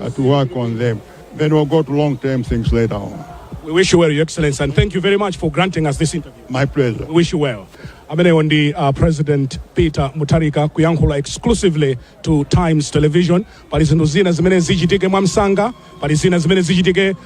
uh, to work on them. Then we'll go to long term things later on. We wish you well, Your Excellency, and thank you very much for granting us this interview. My pleasure. We wish you well. ameneyo ndi uh, president peter mutharika kuyankhula exclusively to times television pali zinthu zina zimene zichitike mwamsanga pali zina zimene zichitike uh,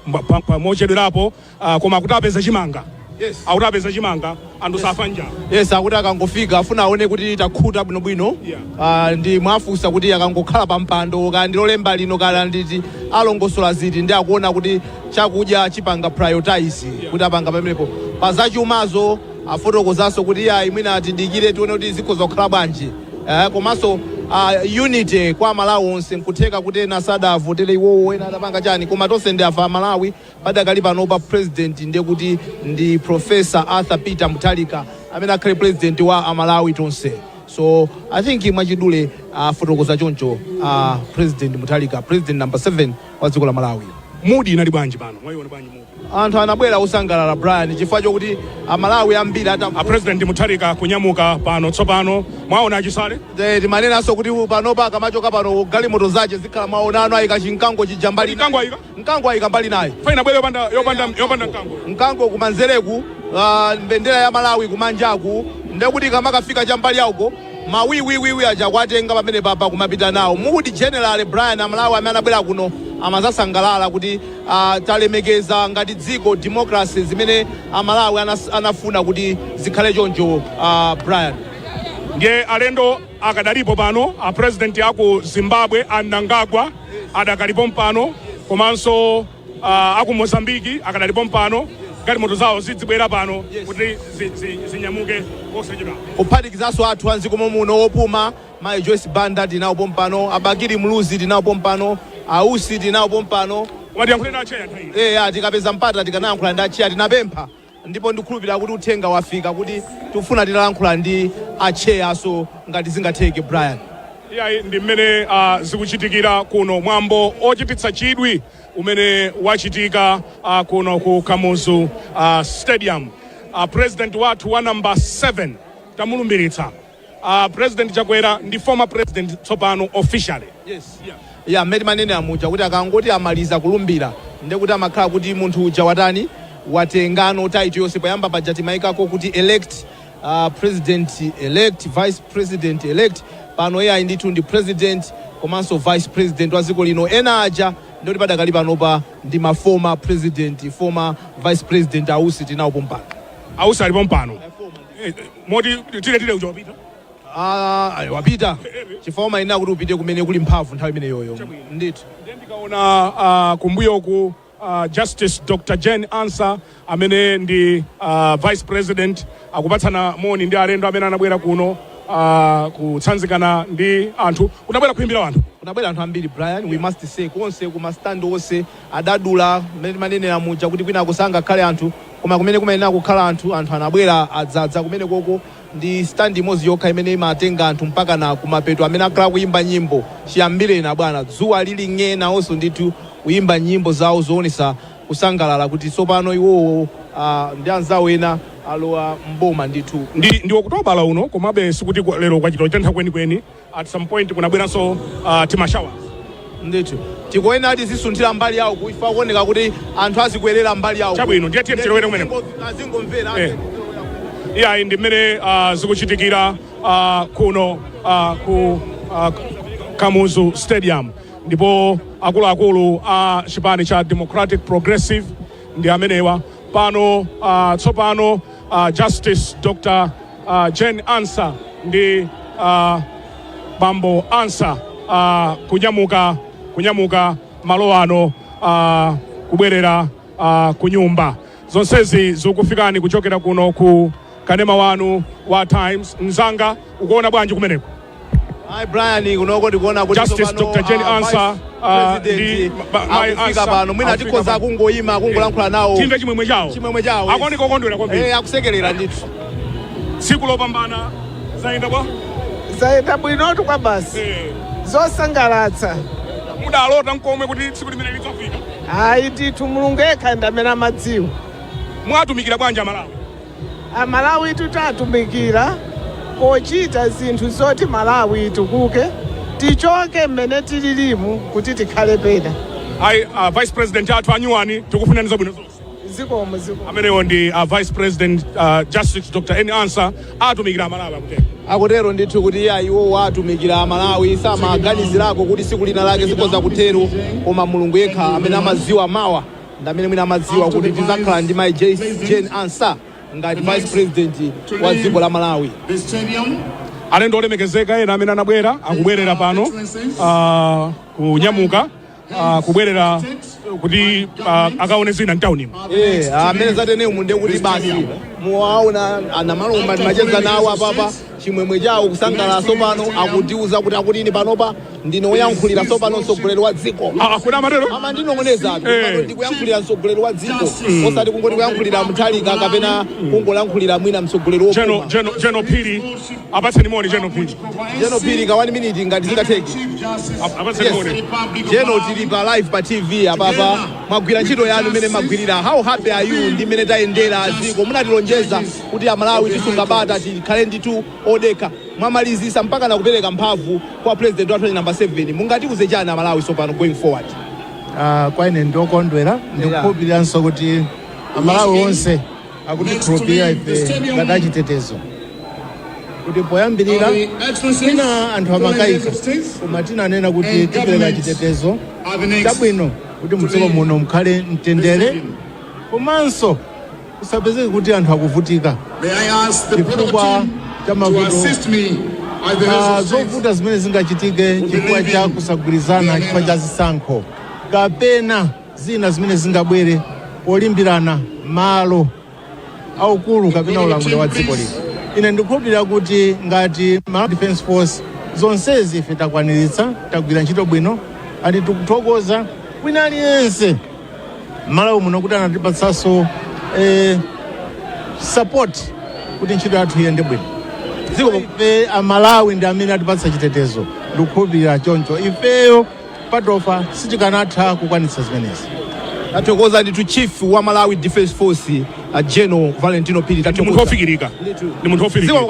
mwa- pa- pa- mochedwerapo Ah, koma akuti apeza chimanga Yes. akuti apeza chimanga anthu safa njala yes akuti akangofika afuna aone kuti takhuta bwinobwino Yeah. Ah, nde mwafunsa kuti akangokhala pa mpando kaya ndi lolemba lino kaya nditi alongosola ziti nde akuona kuti chakudya chipanga prioritize kuti apanga pamenepo pa zachumazo afotokozanso kuti iya imwina atidikire tione kuti zikhoza kukhala bwanji Eh, komanso ah, unity kwa amalawi onse nkutheka kuti ena sadavotere iwowo ena adapanga chani koma tonse ndife aMalawi Padakali panopa president nde kuti ndi professor Arthur Peter Mutharika amene akhale president wa a Malawi tonse so I think mwachidule afotokoza choncho a president Mutharika president number 7 wa dziko la Malawi. Mood inali bwanji pano? Mwaiona bwanji mood? Anthu anabwera osangalala Brian chifukwa chokuti a Malawi ambiri ata A president Mutharika kunyamuka pano tsopano. Mwaona achisale? Eh, timanenanso kuti panopa akamachoka pano galimoto zake zikhala mwaonano ayika chimkango chija mbali Mkango ayika. Mkango ayika mbali inayi. Fine ibwere yopanda yopanda yopanda mkango. Mkango kumanzereku ah, mbendera ya Malawi kumanjaku ndekuti kamakafika cha mbali ya uko mawiwiwiwi aja kuwatenga pamene papa nkumapita nawo mood in general Brian Amalawi amene anabwera kuno amadzasangalala kuti ah, talemekeza ngati dziko democracy zimene Amalawi anas- anafuna kuti zikhale choncho ah, Brian. Ndiye alendo akadalipo pano a president aku Zimbabwe a Mnangagwa adakali pompano komanso uh, aku Mozambiki akadali pompano galimoto zawo zidzibwera pano kuti zi- zi- zinyamuke osachedwa kuphatikizanso athu a mdziko mommuno opuma mayi joyce banda tinawo pompano a Bakili Muluzi tinawo pompano a Usi tinawo pompano muwayankhule acheya nthawi ino. eya tikapeza mpata tikanayankhula ndi acheya tinapempha Ndipo ndikukhulupilira kuti uthenga wafika kuti tikufuna titayankhula ndi a chair so ngati zingatheke Brian. Iyayi ndi mmene a zikuchitikira kuno mwambo ochititsa chidwi umene wachitika a kuno ku Kamuzu a stadium a president wathu wa number 7 tamulumbiritsa. A president chakwera ndi former president tsopano officially. Yes yeah. Yeah, mmene timanenera muja kuti akangoti amaliza kulumbira ndiye kuti amakhala kuti munthu uja watani watengano title yonse poyamba paja timayikako kuti elect uh, president elect vice president elect pano iye ayi ndithu ndi president komanso vice president wa dziko lino ena aja ndikuti padakali panopa ndi ma former president former vice president a Usi tinawo pompano A Usi ali pompano. Eh, moti tire tire uja wapita Ah, ayi, wapita chifukwa umayenera kuti upite kumene kuli mphamvu nthawi imeneyoyo ndithu Ndiye ndikaona ah, kumbuyoku ah, justice dr jane ansah amene ndi ah, vice president akupatsana moni ndi alendo amene anabwera kuno ah, kutsanzikana ndi anthu kunabwera kuimbira anthu kunabwera anthu ambiri brian we must say konse ku ma stand onse adadula, mmene timanenera muja kuti kwinako sangakhale anthu koma kumene kumayenera kukhala anthu, anthu anabwera adzadza kumenekoko, ndi stand imodzi yokha imene imatenga anthu mpakana kumapeto, amene akhala akuyimba nyimbo chiyambire ni bwana dzuwa lili ng'e nawonso ndithu kuyimba nyimbo zawo zowonetsa kusangalala kuti tsopano iwowo ndi anzawo ena alowa m'boma ndithu. Ndi Okutobala uno, komabe sikuti lero kwachita chitentha kwenikweni, at some point kunabweranso uh, tima showers ndithu tikuyenera tizisunthira mbali yawo kuifa kuoneka kuti anthu azikwerera mbali yawo Chabwino, ndiye tiye tilowere kumeneko. azingomvera Eh. iyayi ndi mmene uh, zikuchitikira uh, kuno uh, ku uh, kamuzu stadium ndipo akuluakulu a uh, chipani cha democratic progressive ndi amenewa pano uh, tsopano uh, justice dr a Jane Ansah ndi a bambo Ansah a kunyamuka kunyamuka malo ano a kubwerera a kunyumba zonsezi zikufikani kuchokera kuno ku kanema wanu wa Times mzanga ukuona bwanji kumeneko Ayi Brian kunoko ndikuona kuti Justice tsopano, Dr. Jane ah, Ansah, Vice ah, ndi President ma- ma- Mai akufika Ansah, pano mwina akufika tikhoza pano. kungoyima akungolankhula nawo timve chimwemwe chawo chimwemwe chawo akuoneka okondwera kwambiri Eh, akusekerera ndithu tsiku lopambana zayenda bwa zayenda bwinotu kwa basi Eh, zosangalatsa mudalota nkomwe kuti tsiku limene lidzafika ayi ndithu mulungu yekha ndi amene amadziwa mwatumikira bwanji amalawi Amalawitu tatumikira pochita zinthu zoti Malawi itukuke, tichoke mmene tililimu kuti tikhale pena. Ayi, a vice president athu anyuwani tikufunani zabwino zonse. Zikomo zikomo. Amenewo ndi a vice president uh, Justice Dr. N. Ansa atumikira amalawi akutero. akutero ndithu kuti iyayi iwowo atumikira amalawi samaganizirako kuti siku lina lake zikhoza kutero koma mulungu yekha amene amaziwa mawa ndamene mwina amadziwa kuti tizakhala ndi mai Jane Ansah ngati vice president wa dziko la Malawi alendo olemekezeka ena amene anabwera akubwerera pano uh, kunyamuka uh, kubwerera kuti uh, akaone zina mtaunimu amene zatenemu ndekuti basi muwaona anamalomba timacheza nawo apapa chimwemwe chawo, kusangalala tsopano, akutiuza kuti, akuti ine panopa ndine woyankhulira tsopano mtsogoleri wa dziko. Ah, ah, kodi amatero? amandinong'oneza ati Eh. pano ndikuyankhulira mtsogoleri wa dziko osati kungoti kuyankhulira Mutharika kapena kungoyankhulira mwina mtsogoleri General, wopuma General, General Phiri. Apatseni moni Jeno Pili. General Phiri ka 1 minute ngati zingatheke Ap- Apatseni Yes. moni. General tili pa live pa tv apapa mwagwira ntchito yanu mmene mwagwirira how happy are you ndi mmene tayendera dziko munatilonjeza kuti amalawi tisunga bata tikhale ndithu odekha mwamalizisa mpakana kupeleka mphamvu kwa president wathu wachi number 7 mungatiuze chani amalawi tsopano going forward Ah, kwa ine ndine okondwera ndikukhulupiriranso kuti amalawi onse akutikhulupirira ife ngati achitetezo kuti poyambirira tina anthu amakayika koma tinanena kuti tipereka chitetezo chabwino kuti mdziko muno mukhale mtendere komanso Kusapezeke kuti anthu akuvutika chifukwa cha mavuto, zovuta zimene zingachitike chifukwa cha kusagwirizana chifukwa cha zisankho kapena zina zimene zingabwere polimbirana malo aukulu kapena ulamuliro wa dziko lino. Ine ndikukhulupirira kuti ngati Malawi Defence Force zonsezi ife takwaniritsa, tagwira ntchito bwino, and tikuthokoza wina aliyense m'Malawi muno kuti anatipatsanso eh, support kuti ntchito yathu iyende bwino dziko ife amalawi ndi amene atipatsa chitetezo ndikukhulupirira choncho ifeyo patokha sitikanatha kukwanitsa zimenezi tathokoza ndithu chief wa malawi defense force uh, general Valentino Phiri ndi munthu wofikirika ndi munthu wofikirika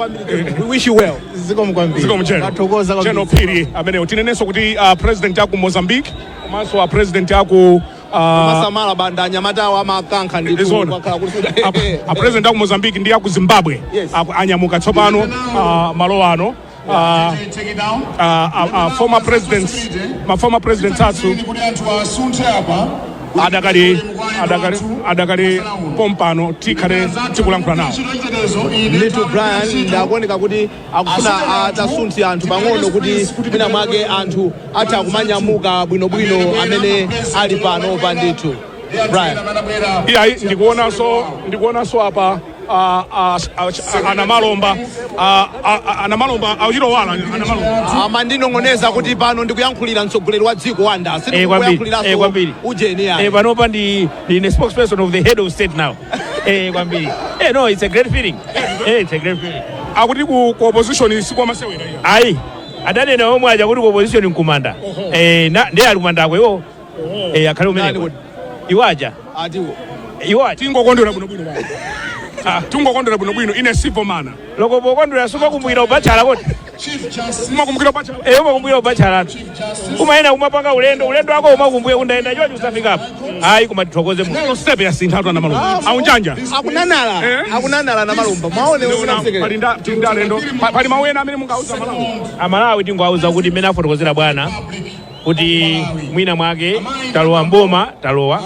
we wish you well zikomo kwambiri zikomo General tathokoza General kwambiri Phiri ameneyo tinenenso kuti uh, president aku mozambique komanso a president aku ah, masamala Banda anyamata awo amakankha ndithu kwakhala kuti a- a president aku mozambique ndi aku zimbabwe Yes. aku- anyamuka tsopano ah, malo ano Ah, Take it down. ah, ah, ah, former presidents ma former presidents athu Ili kuti anthu asunthe apa. adakali adakali adakali pompano tikhale tikulankhula nawo Little Brian zikuoneka kuti akufuna atasuntha anthu pang'ono kuti mwina mwake anthu atha kumanyamuka bwinobwino amene ali panopa ndithu brian iyayi ndikuonanso ndikuonanso apa ah, ah, ah, ah, anamalomba ah, ah, ah, anamalomba auchitowala anamalomba amandinong'oneza kuti pano ndikuyankhulira mtsogoleri wa dziko wanda Eh, kwambiri. Eh, sindikuyankhuliranso kwambiri. ujeni Eh, yani panopa ndi ndi ine spokesperson of the head of state now Eh, kwambiri. Eh, no, it's a great feeling. Eh, it's a great feeling. akuti ku ku opposition si kwa masewera iyayi Ayi. Adanena omwe aja kuti ku opposition nkumanda. Eh, ndiye ali kumandako iwo. Eh, akhale umene. Nani kuti? Iwo aja. atiwo Iwo aja. tingokondwera bwino bwino bwana. tingokondwera bwino bwino ine sindivomera Loko pokondwera sumakumbukira ubatchala kodi. umakumbukira ubatchala wako? Eh, umakumbukira ubatchala wako umayenda kumapanga ulendo ulendo wako umakumbukira ndinayenda chonchi usafikapo ayi koma tithokoze mu Lero step yasintha atwana malungu. Aunjanja. akunanala Eh? akunanala na malumba mwaone Leona usinaseke pali nda tinda lendo. Pa- Pali mawu ena amene mungauze Amalawi. amalawi tingowauza kuti mmene afotokozera bwana kuti mwina mwake talowa mboma talowa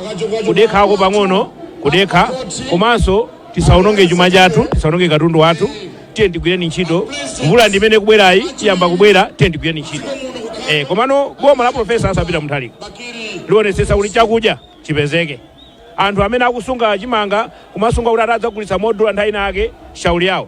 kudekhako pang'ono kudekha komanso tisaononge chuma chathu tisaononge katundu wathu tiye tigwireni ntchito mvula ndi imene ikubwerayi iyamba kubwera tiye tigwireni ntchito eh, komano boma la profesa Arthur Peter Mutharika lionetsetsa kuti chakudya chipezeke anthu amene akusunga chimanga kumasunga kuti atadzagulitsa modula nthawi inayake shauli yawo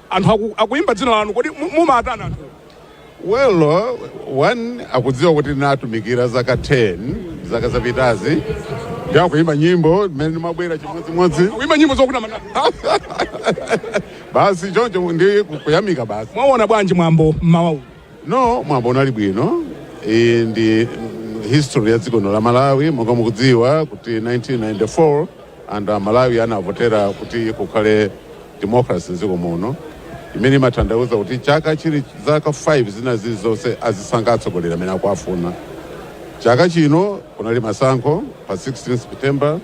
Anthu aku, akuimba dzina lanu kodi mu- mumatani anthu? well uh, onse akudziwa kuti ndinatumikira zaka 10 zaka zapitazi ndi akuimba nyimbo mmene ndimabwera chimodzimodzi Akuimba nyimbo zokuti amatani? basi choncho ndi ku- kuyamika basi Mwaona bwanji mwambo mmawa uno? no mwambo unali bwino iyi ndi mm, history ya dziko lino la malawi monga mukudziwa kuti 1994 and amalawi anavotera kuti kukhale democracy mdziko muno imene imatanthauza kuti chaka chili zaka 5 zina zili zonse azisankha atsogoleri amene akuafuna chaka chino kunali masankho pa 16 september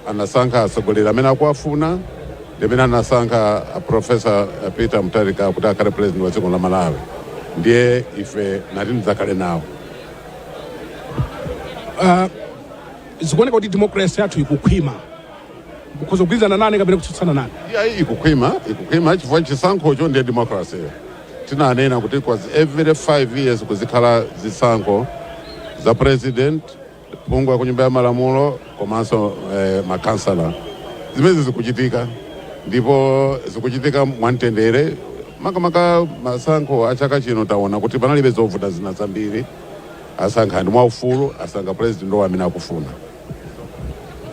anasankha atsogoleri amene akuafuna ndimene anasankha uh, profesa uh, peter mutharika kuti akhale president wa dziko la malawi ndiye ife tinati tidzakhale nawo uh, Zikuoneka kuti democracy yathu ikukhwima. Mukhoza kugwirizana nane kapena kutsutsana nane. Iyayi ikukhwima, ikukhwima chifukwa chisankhocho ndiye democracy. Tinanena kuti kwa zi- every five years kuzikhala zisankho za president, phungu wa ku nyumba ya malamulo komanso eh, makansala. Zimenezi zikuchitika ndipo zikuchitika mwamtendere. Makamaka masankho a chaka chino taona kuti panalibe zovuta zina zambiri. Asankha anthu mwaufulu, asankha president wawo amene akufuna.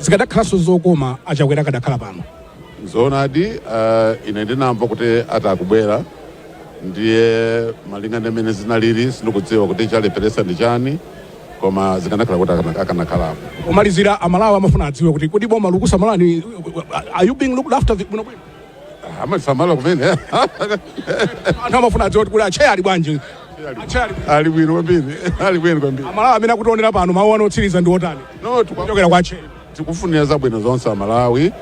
Zikadakhalanso zokoma a Chakwera akadakhala pano. Nzoonadi uh, ine ndinamva kuti ati akubwera ndiye malinga ndi mmene zinalili sindikudziwa kuti chalepheretsa ndi chani koma zikanakhala kuti akana- akanakhalapo Pomalizira amalawi amafuna adziwe kuti kodi boma likukusamalani are you being looked after bwinobwino? amasamala kumene anthu amafuna adziwe kuti kuli atcheya ali bwanji atcheya ali ali bwino kwambiri ali bwino kwambiri amalawi amene akutionera pano mawu ano otsiriza ndi otani no tikwa- kuchokera kwa atcheya tikufunira zabwino zonse amalawi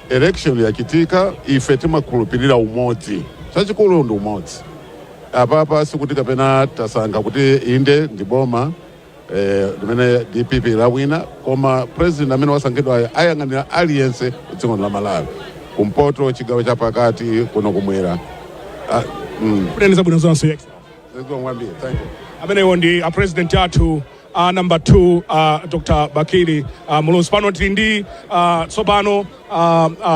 election yachitika ife timakhulupirira umodzi chachikulu ndi umodzi apapa sikuti kapena tasankha kuti inde ndi boma eh, limene dpp lawina koma president amene wasankhidwayo ayang'anira aliyense dziko la malawi kumpoto chigawo chapakati kuno kumwera Ah, mm, Kuteneko zabwino zonse. Yex. zikomo kwambiri thank you amenewo ndi a president athu a number 2 a dr bakili a muluzi pano tili ndi ah, tsopano ah, ah,